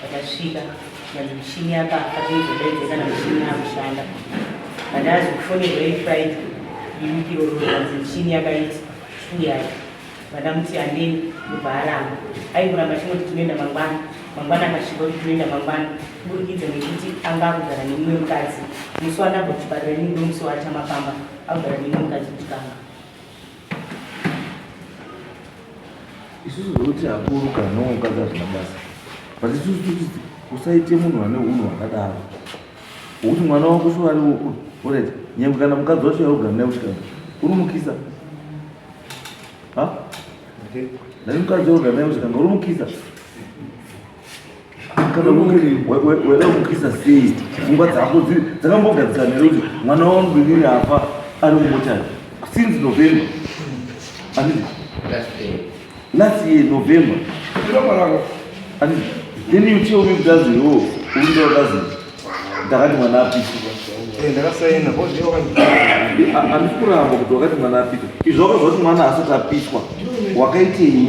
Vakasvika kana mushini apa akazoizodaidza kana mushini yakushanda but azi kufonerwa ifriday imukiro roanzi mushini yakaita uyai vadamuti andeni ndobva aramba aikuramba chinoti tinoenda mangwana mangwana akasvika kuti tinoenda mangwana kuburikidza nekuti anga akugara nemumwe mukadzi musi wanabva kuchipatara ini ndomusi waachamapamba akugara nemumwe mukadzi kuchikanga isusu zvekuti akuru kana nomukadzi hazvina basa but isusu totiti usaite munhu ane unhu hwakadaro hwekuti mwana wako so ari orit nyangwe kana mukadzi wacho yaugara naye kuchikana unomukisa ha nani mukadzi waugara naye kuchikana unomukisa kana weda kukisa sei pfungwa dzako dzakambogadzikana here kuti mwana wangu inini afa ari mumochari since november andii last year november andii then you tell me kutazi yo oh, uinda watazi ndakati mwana apisiwa eh, ndakasaina andisi kuramba kuti wakati mwana apita izvi wakazva kuti mwana asati apiswa wakaitei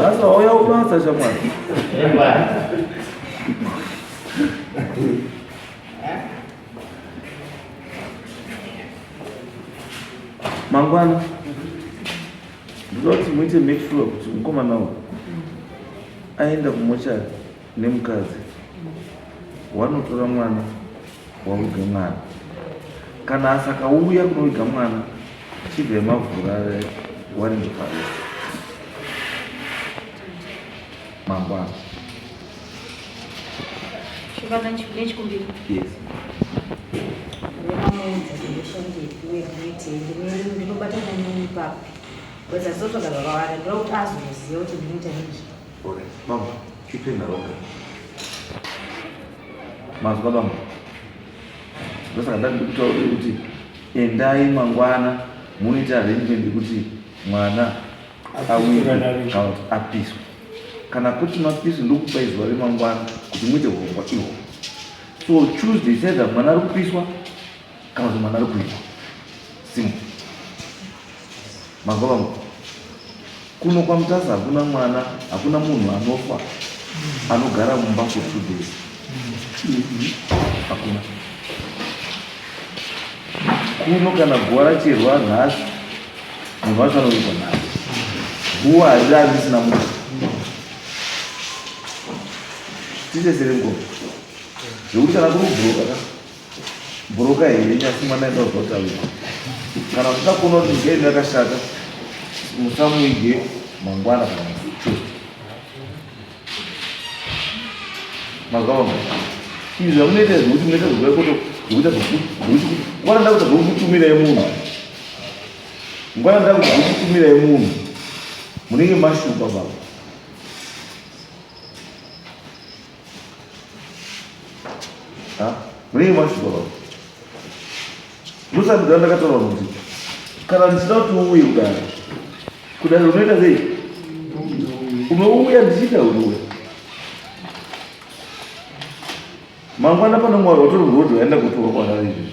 Sasa wauya ubasa shamwari. Mangwana ndinoti muite make sure kuti mukomana uyu aenda kumochari nemukadzi wanotora mwana waviga mwana kana asakauya kunoviga mwana chibve mavhura waringe parese mangwana yes ndinobatana nini papi because azotoda baba vake ndokuti azoziva kuti ndinoita nezvi Ore, bambo, chipenda roga. Mazwa bambo. Ndosaka ndandi kutaura kuti endai mangwana muite arrangement kuti mwana awirikaut apiswe kana kuti mapiswe ndokupa izuva remangwana kuti muite hurongwa ihwo so tuesday saida mwana ari kupiswa Kana kuti mwana ari kuita simu manzwa vangu kuno kwamutasa hakuna mwana hakuna munhu anofa anogara mumba for two days hakuna kuno kana guva racherwa nhasi munhu wacho anoita nhasi guva hariravi risina munhu tichesere ngoma zvekuti kana kurubhuroka ka Buruka here nyasi mwana enda uzota uyu. Kana kuda kuno ngeni yakashata musamuige mangwana kana mfucho. Mazvaona. Izvi zvamunoita izvi kuti munoita zvokuda kuti zvokuita zvokuti ngwana ndakuta zvokutumira yemunhu. Ngwana ndakuta zvokutumira yemunhu. Munenge mashupa baba. Ha? Munenge machidoro. Musa mudhara ndakataura kuti kana ndichida kuti uuye kudai. Kudai unoita sei? Unouya ndichida unouya. Mangwana pano mwari watori road waenda kutora kwanari izvi.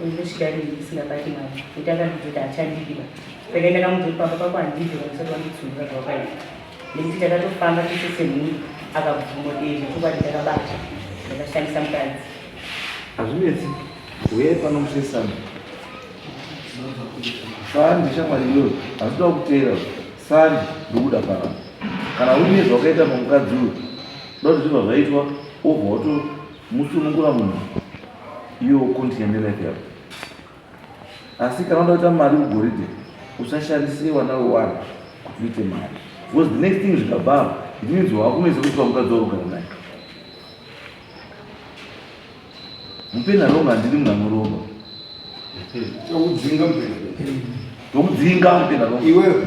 Unoshira nini ndisingabati mwana kuti akandidzoti achandidiba saka ndakamuti pamba pako handidi vamusati wanditsundura zvawakaita nekuti takatofamba tese semhuri akabvumo ee zvechokwadi ndakabata ndakashandisa mukadzi hazvinetsi uye pano musesana sandi shamwari iyoyo hazvida kuteera sandi ndokuda kana kana uine zvawakaita pamukadzi uyo ndokuti zvibva zvaitwa obva wato musunungura munhu Iwe ukunzi ende life yako. Asi kana unoda kuita mari mugoridhe usashandise wana wewari kuti uite mari. Because the next thing zvikabva it means wakunoisa kuti pamukadzi wakugara naye. Mupeni aronga handiri munhu anoromba. Tokudzinga mupeni. Tokudzinga mupeni aronga. Iwewe.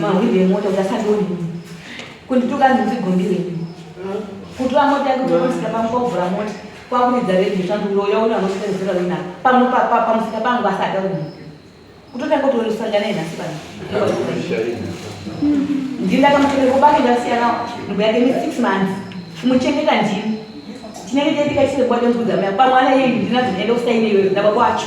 Mahwindi emota kuti asandione kundituka ndinzigombire kutora mota yake kutomusika pangu kwakuvhura mota kwakuridza redio shanduroya uno anosenzera wina pamwe pamusika pangu asada uno kutotanga kuti unosangana enhasi pano ndindakamuchengeta kubake ndasiyana ndubo yake ne six months kumuchengeta ndini chinenge chatika chisebwade mvudza maya pamwana yeyi ndinazoenda kusaine iyoyo ndaba kwacho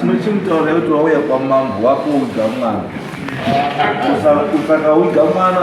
chinochimutaura kuti wauya kwamambo wakuudza mwana usakaudza mwana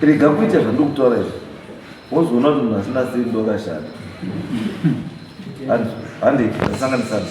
Rega kuita zvandokutaura izvi wozoona kuti munhu asina siri ndokashanda hande sanganisana